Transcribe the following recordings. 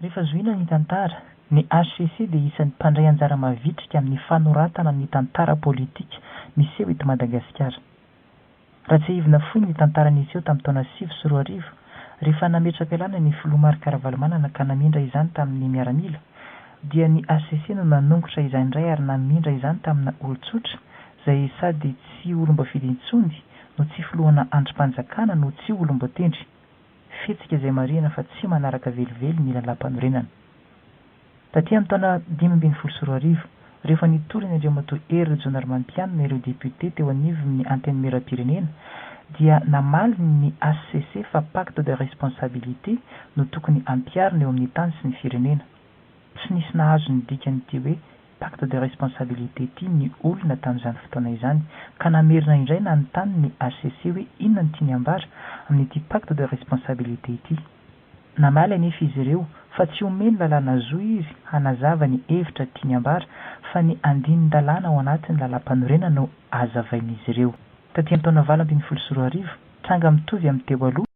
Rehefa zohiana ny tantara, ny HCC dia isan'ny mpandray anjara mavitrika amin'ny fanoratana ny tantara politika miseho eto Madagasikara. Raha tsiahivina fohy ny tantara niseho tamin'ny taona sivy sy roa arivo, rehefa nametraka lalana ny filoha Marc Ravalomanana ka namindra izany tamin'ny miaramila, dia ny HCC no nanongotra izany indray ary namindra izany tamina olon-tsotra izay sady tsy olom-boafidy intsony no tsy filohana andrim-panjakana no tsy olom-boatendry. fihetsika izay marihina fa tsy manaraka velively ny lalàmpanorenana. Taty amin'ny taona dimy ambin'ny folo sy roa arivo, rehefa nitory an'i Andriamatoa Hery Rajaonarimampianina ireo depiote teo anivon'ny Antenimierampirenena, dia namaly ny hcc fa pacte de responsabilité no tokony hampiharina eo amin'ny tany sy ny firenena. Tsy nisy nahazo ny dikan'ity hoe pacte de responsabilité ity ny olona tamin'izany fotoana izany ka namerina indray nanontany ny hcc hoe inona no tiany ambara amin'ity pacte de responsabilité ity. Namaly anefa izy ireo fa tsy omeny lalàna zo izy hanazava ny hevitra tiany ambara fa ny andinin-dalàna ao anatin'ny lalampanorenana no hazavain'izy ireo. Taty amin'ny taona valo ambin'ny folo sy roa arivo, tranga mitovy amin'ny teo aloha,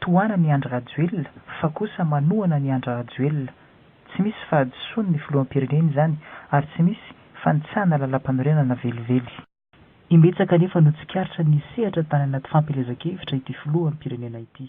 Tohana ny Andry Rajoelina fa kosa manohana ny Andry Rajoelina. Tsy misy fahadisoan ny filoham-pirenena izany ary tsy misy fanitsahana lalampanorenana velively. Imbetsaka anefa no tsikaritra ny sehatra tany anaty fampielezan-kevitra ity filoham-pirenena ity.